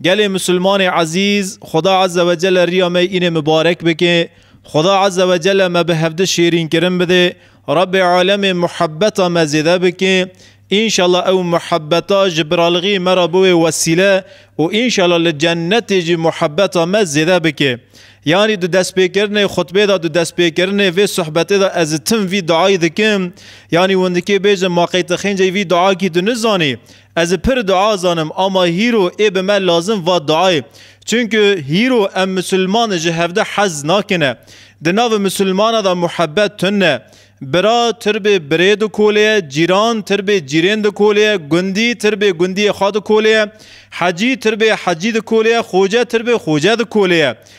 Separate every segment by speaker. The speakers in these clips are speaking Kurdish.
Speaker 1: Gelê Musulmanê ezîz, Xuda Azze ve Celle riya me înê mibarek bike. Xuda Azze ve Celle me bi hevdi şêrînkirin bide. Rabbê Alemê muhebbeta me zêde bike. Înşallah ew muhebbeta ji biralixî me re biwê wesîle û înşallah li cennetê jî muhebbeta me zêde bike. Yanî di destpêkirinê xutbê de di destpêkirinê vê suhbetê de ez tim vî duayî dikim. Yanî hûn dikê bêjin ma qey ti xênceyî vî duakî tu nizanî. Ez ê pir dua zanim ama hîro ê bi me lazim va duayê. Çunku hîro em misilman ji hevde hez nakine. Di navi misilmana da muhebet tun e. Bira tirbê birê dikoleye, cîran tirbê cîrên dikoleye, gundî tirbê gundiyê xwe dikoleye, hecî tirbê hecî dikoleye, xoce tirbê xoce dikoleye.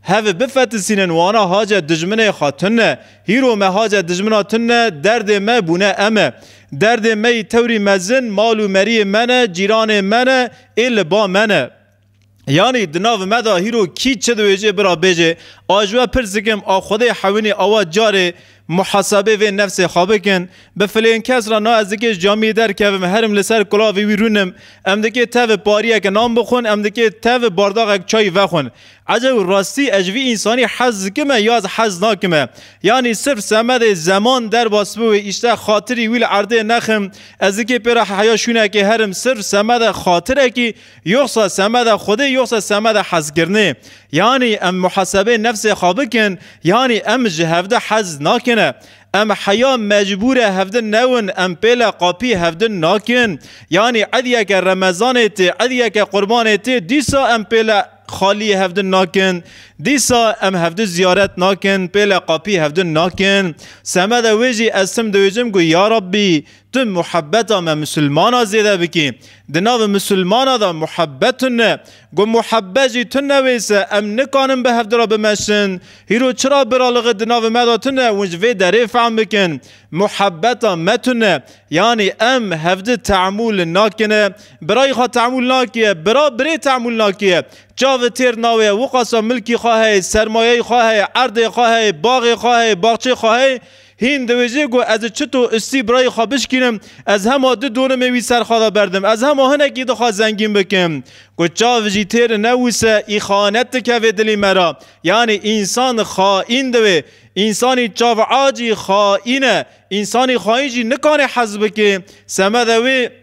Speaker 1: Hev bifetisînin wana hace dijminê xwe tune. Hîro me hace dijmina tune derdê me bûne em e. Derdê me yî tewrî mezin mal û meriyê me ne, cîranê me ne ê li ba me ne. Yanî di nav me de hîro kî çi diwêjê bira bêjê. A ji we pirsikim a Xwedê hewinî awa carê Muhasebê vê nefsê xwe bikin. Bi filên kes re na ez dikê ji camiyê derkevim, herim li ser kulavê wî rûnim. Em dikê tevê pariyeke nan bixwin, em dikê tevê bardaxek çayî vexwin. Ecew rastî ez ji vî însanî hez dikim e ya ez hez nakim e? Yanî sirf semedê zeman derbas bi wê îştex xatirî wî li erdê nexim? Ez dikê pê re heya şûnekê herim sirf semedê xatirekî Yoxsa semeda Xwedê yoxsa semeda hezkirinê? Yanî em muhesebeyê nefsê xwe bikin, yanî em ji hevdin hez nakin e? Em heya mecbûr e hevdin newin, em pêle qapî hevdin nakin? Yanî ediyeke remezanê tê, ediyeke qurbanê tê, dîsa em pêle xalî hevdin nakin? Dîsa em hevdin ziyaret nakin, pêle qapî hevdin nakin? Semeda wê jî ez tim diwêjim ku ya Rabbî Tu muhebbeta me misilmana zêde bikî. Di navê misilmana de muhebbet tune. Ku muhebbet jî tune wêse em nikanin bi hevdi re bimeşin. Hîro çira biraliqî di navê me de tune hûn ji vê derê fehm bikin. Muhebbeta me tune. Yanî em hevdi teemûl nakin e. Birayî xwe teemûl nakiye, bira birê teemûl nakiye. Çavi têr nawiye wiqasa milkî xwe heye, sermayeyê xwe heye, erdê xwe heye, baxê xwe heye, baxçeyê xwe heye. Hîn diwêjê ku ez çito istî birayê xwe bişkînim, ez hema du dorimê wî ser xwe de berdim. Ez hema hinekî dixwe zengîn bikim. Ku çav jî têr newise îxanet dikeve dilê me re. Yanî însan xaîn dibe. Însanî çav a jî xaîn e. Însanî xaîn jî nikane hez bike semede wê.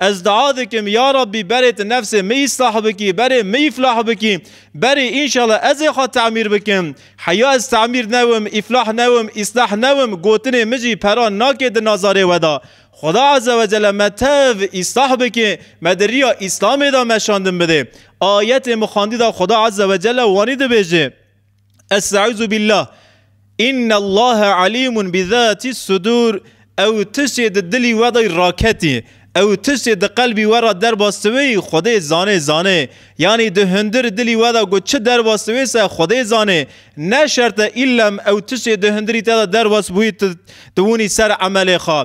Speaker 1: Ez dua dikim ya Rabbî berê tu nefsê min îslah bikî, berê min îflah bikî, berê înşallah ez ê xwe temîr bikim. Heya ez temîr newim, îflah newim, îslah newim gotinê min jî pera nake di nazarê we de. Xuda Eze ve Cele me tev îslah bike, me di riya Îslamê de meşandin bide. Ayetê min xwendî de Xuda Eze ve Cele wanî dibêje. Estaizubillah İnna Allah alimun bi zati sudur ew tiştê di dilî we de raketî ew tiştê di qelbî we re derbas diwê Xwedê zanê zanê yanî di hundir dilî we de ku çi derbas diwê se Xwedê zanê ne şerte îllem ew tiştê di hundirî te de derbas bûyî tu tu winî ser emelê xwe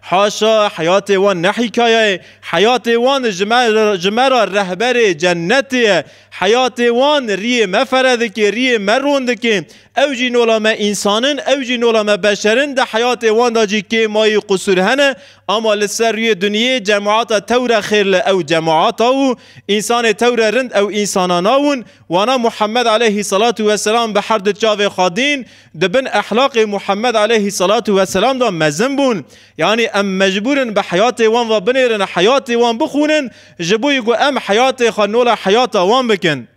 Speaker 1: Haşa heyatê wan ne hîkaye ye, heyatê wan ji me ji me re rehberê cennetê ye. Heyatê wan riyê me fere dike, riyê me ron dike. Ew jî nola me însan in, ew jî nola me beşer in. Di heyatê wan de jî kêm ayî qusûr hene. Ama li ser rûyê dinyê cemata tewre xêr li ew cemata û însanê tewre rind ew însanana win. Wana Muhammed aleyhî selatû weselam bi her du çavê xwe dîn, Di bin ehlaqê Muhammed aleyhî selatu weselam de mezin bûn. Yanî em mecbûr in bi heyatê wan ve binêrin, heyatê wan bixwînin ji bo yê ku em heyatê xwe nola heyata wan bikin.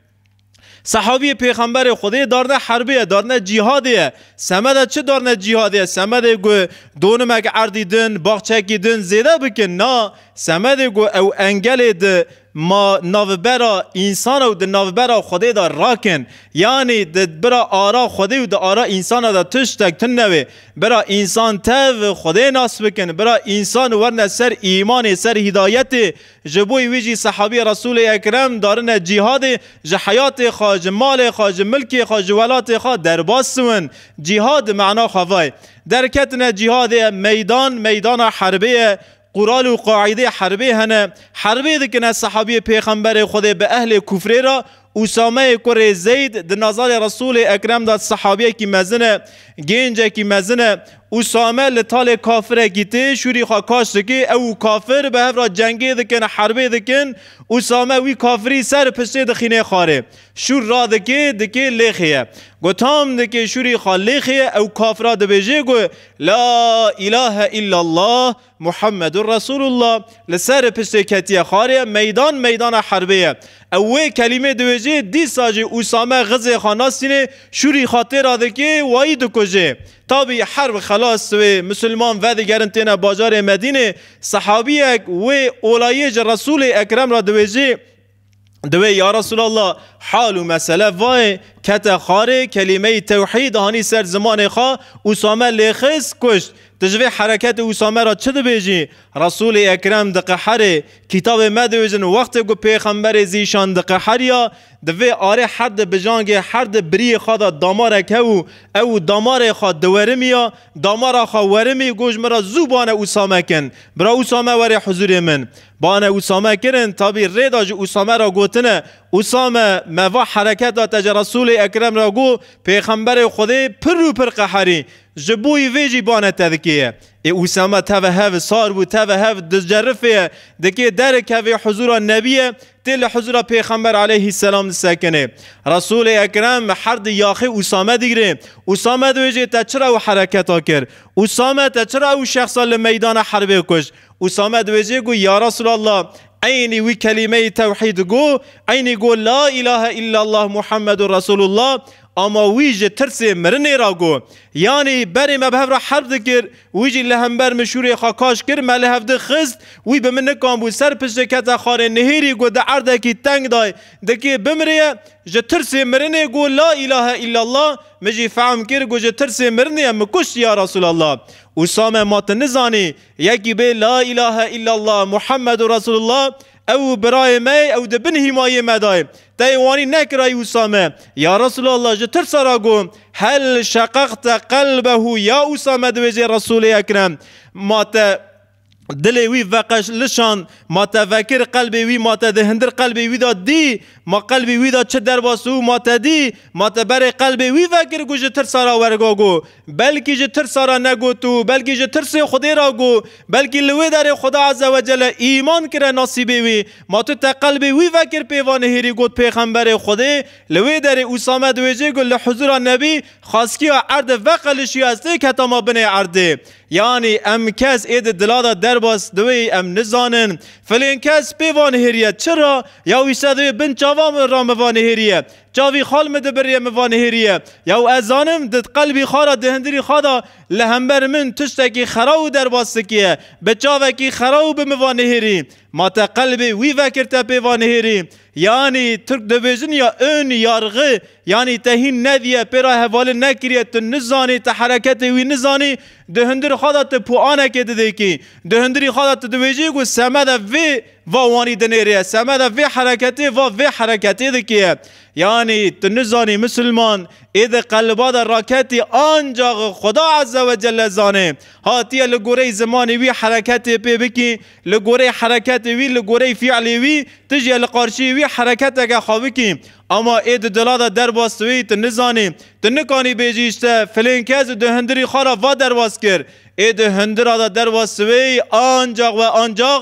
Speaker 1: Sehabîyê Pêxemberê Xwedê darne herbê ye, darne cîhadê ye. Semeda çi darne cîhadê ye? Semedê ku donimek erdî din, baxçekî din zêde bikin na. Semedê ku ew engelê di Ma navbera însan û di navbera Xwedê de rak in. Yanî di bira ara Xwedê û di ara însan de tiştek tune wê. Bira însan tev Xwedê nas bikin. Bira însan werne ser îmanê, ser hîdayetê. Ji bo wî jî sehabî Resûlê Ekrem darine cîhadê, ji heyatê xwe, ji malê xwe, ji milkê xwe, ji welatê xwe derbas siwin. Cîhad mena xwe vay. Derketine cîhadê meydan, meydana herbê ye Qural û qaîdê herbê hene. Herbê dikine sehabiyê pêxemberê Xwedê bi ehlê kufrê re. Usameyê kurê Zeyd di nazalê Resûlê Ekrem de sehabiyekî mezin e. Gêncekî mezin e. Usame li talê kafirekî tê şûrî xwe kaş dike. Ew û kafir bi hev re cengê dikin, herbê dikin. Usame wî kafirî ser piştê dixînê xwarê. Şûr radike, dike lêxê ye. Ku tam dike şûrî xwe lêxê ye, ew kafira dibêje ku La îlahe îllallah Muhammedû Resûlûllah li ser piştê ketiye xarê meydan meydana herbê ye. Ew wê kelîmê diwêjê dîsa jî Usame Xizê xwe nasînê şûrî xwe tê ra dikê wayî dikujê. Tabî herb xelas wê Musulman vedigerin têne bajarê Medînê, sehabiyek wê olayê ji Resûlê Ekrem ra diwêjê, Divê ya Resulallah hal û mesele vayê kete xarê kelîmeyî tewhîd hanî ser zimanê xwe Usame lê xist kuşt. Tu ji vê hereketê Usame ra çi dibêjî? Resulê Ekrem diqeherê, kîtabê me diêjin wextê ku pêxemberê zîşan diqeheriya di vê arê her di bijangê her di biriyê xwe de damarek hebû ew û damarê xwe diwerimiya damara xwe werimî goş min ra zû bane Usame kin bira Usame werê huzurê min Bane Usame kirin, tabî rê da ji Usame re gotine, Usame, me va hereketa te ji Resûlê Ekrem re got, Pêxemberê Xwedê pir û pir qeherî, ji boî vê jî bane te dikêye. Ê Usame teve hev sar bû, teve hev dicerifêye, dikê derikevê huzûra Nebiyê, tê li huzûra Pêxember aleyhî selam disekinê. Resûlê Ekrem her di yaxê Usame digirê, Usame dibêjê te çira ew hereketa kir? Usame te çira ew şexsa li meydana herbê kuşt? Usame diwêjê got, Ya Resûlallah, eynî wî kelîmeyê tewhîd got, eynî got La îlahe îllallah Muhammedur Resûlullah, ama wî ji tirsê mirinê re got. Yanî berê me bi hev re herb dikir, wî jî li hember min şûrê xwe kaş kir, me li hev di xist, wî bi min nikanbû ser piştê kete xanê nihêrî got di erdekî teng de dikê bimrê, ji tirsê mirinê got La îlahe îllallah, min jî fehm kir got ji tirsê mirinê min kuşt ya Resûlallah. Usame ma tu nizanî Yekî bê La îlahe îllallah Muhammedu Resûlullah ew birayê me ye, ew di bin hîmayê me de ye. Teyê wanî nekirayî Usame. Ya Resûlallah ji tirsa re got, Hel şeqaqte qelbehu ya Usame diwêjê Resûlê Ekrem ma te dilê wî veqeşlişand, ma te vekir qelbê wî, ma te di hindir qelbê wî de dî, ma qelbê wî de çi derbas û ma te dî, ma te berê qelbê wî vekir ku ji tirsa re werga got, Belkî ji tirsa re negot û belkî ji tirsê Xwedê re got, belkî li wê derê Xweda Eze Wecele îman kire nasîbê wî. Ma tu te qelbê wî vekir pêva nihêrî got pêxemberê Xwedê, li wê derê Usame di wê jê got li huzûra Nebî xaskiya erde veqelişiya ez têk hetama binê erdê. Yanî em kes ê di dila de derbas di wê em nizanin filên kes pêva nihêriye çi ra ya wî se di wê bin çavan ra miva nihêriye Çavî xal min dibiriye min vanihêriye. Yaw ez zanim di qelbî xal a di hindirî xal de li hember min tiştekî xera û derbas sikiye. Bi çavekî xera û bi min vanihêrî. Ma te qelbê wî vekir te pê vanihêrî. Yanî Tirk dibêjin ya ön, yargı, yanî te hîn nediye pê re hevalin nekiriye tu nizanî te hereketê wî nizanî di hindir xal de tu puanekê didêkî. Di hindirî xal de tu dibêjî ku semede vê Va wanî dinêrê semeda vê hereketê va vê hereketê dikê. Yanî tu nizanî misilman ê di qeliba de raketî ancax Xweda Eze we Celle zanê. Hatiye li goreyî zimanê wî hereketê pê bikî, li goreyî hereketê wî, li goreyî fîalê wî tu jî li qarşiyê wî hereketeke xwe bikî. Ama ê di dila de derbas wêyî tu nizanî. Tu nikanî bêjî îşte filên kes û di hundirî xwe re va derbas kir. Ê di hundira de derbas wêyî ancax we ancax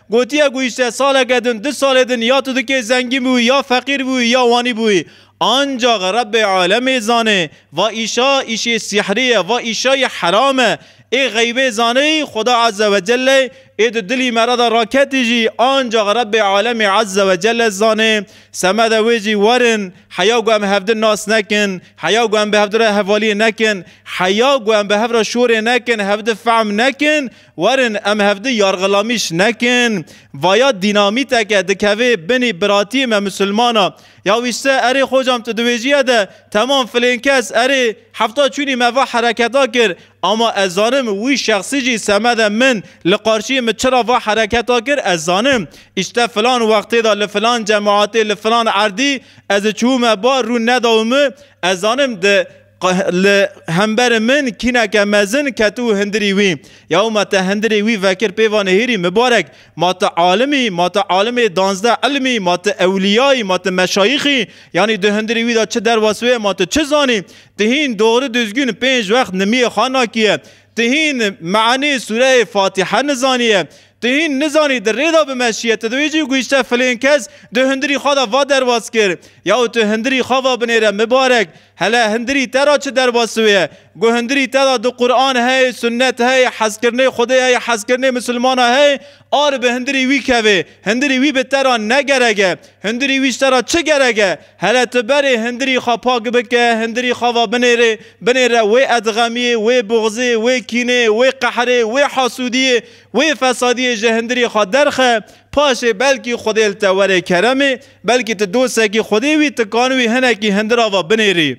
Speaker 1: Gotiye ku îşte saleke din, du salê din ya tu dikê zengîn bûyî ya feqîr bûyî ya wanî bûyî. Ancax Rebbê alemê zanê va îşa îşê sîhrî ye, va îşayî heram e. Ê xeybê zaneyî Xweda Eze Wecelle ê di dilî me re de raketî jî ancax Rebbê alemê Eze Wecelle zanê. Semede wê jî werin heya ku em hevdin nas nekin, heya ku em bi hevdire hevaliyê nekin, heya ku em bi hev re şorê nekin, hevdi fehm nekin, Werin em hevdu yargilamîş nekin. Vaya dînamîteke dikevê binî biratiyê me misilmana. Ya wîşte erê xocam tu di wêjîye de temam filên kes erê hefta çûnî me va hereketa kir. Ama ez zanim wî şexsî jî semede min li qarşiyê min çira va hereketa kir ez zanim. Îşte filan wextê de li filan cemaatê li filan erdî ez çûme ba rûn nedaw min ez zanim di Li hemberê min kîneke mezin ket û hindirî wî. Yaw ma te hindirê wî vekir pê va Nêhîrî mibarek, ma tu alim î, ma tu alimê danzdeh ilm î, ma tu ewlîya î, ma tu meşayîx î, yanî di hindirê wî de çi derwes wê, ma tu çi zanî? Tu hîn dogri duzgûn pênc wext nimiyê xwe nakîye? Tu hîn meanî sûreyê Fatîhe nizanîye? Tu hîn nizanî di rê de bimeşîye? Tu di wê cî guhîşte filên kes di hindirî xwe de va derwes kir. Yaw tu hindirî xwe va binêre mibarek. Hele hundirî te ra çi derbasû ye? Gu hundirî te ra di Quran hey, sunnet hey, hezkirinê Xwedê hey, hezkirinê misilmana hey, a ri bi hundirî wî kevê. Hundirî wî bi te ra ne gerek e. Hundirî wî ji te ra çi gerek e? Hele tu berê hundirî xwe pak bike, hundirî xwe va binêrê, binêre wê edxemiyê, wê buxzê, wê kînê, wê qehrê, wê hasûdiyê, wê fesadiyê ji hundirî xwe derxe, paşê belkî Xwedê li te were keremê, Belkî tu dosekî xwedê wî tikan wî hinekî hindir ava binêrî.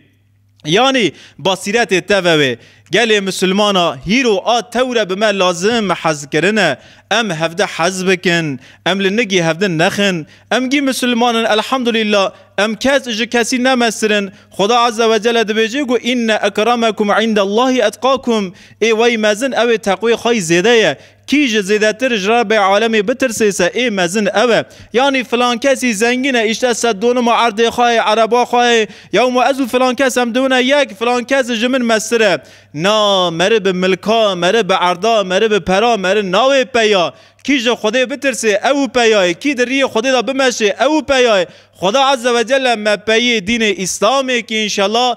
Speaker 1: Yanî basîretê te ve wê. Gelê misilman a hîro a tewre bi me lazim hezkirin e. Em hevdi hez bikin. Em li nigî hevdin nexin. Em gî misilman in elhamdulîla. Em kes ji kesî ne mestir in. Xweda eze we cele dibêje ku inne ekremekum indellahî etqakum. Ê wey mezin ew ê teqwê xwe yî zêde ye. Kî ji zêdetir ji Rabbê alemê bitirsê se ê mezin ew e. Yanî filan kesî zengîn e îşte sed donuma erdê xwe yê, ereba xwe yê. Ya wima ez û filan kes em diwine yek, filan kes ji min meztir e. Na, meri bi milka, meri bi erda, meri bi pera, meri nawê peya. Kî ji Xwedê bitirsê ew û peya yê, kî di riyê Xwedê de bimeşê ew û peya yê. Xweda Ezzewecelle me peyê dînê Îslamê kî înşella,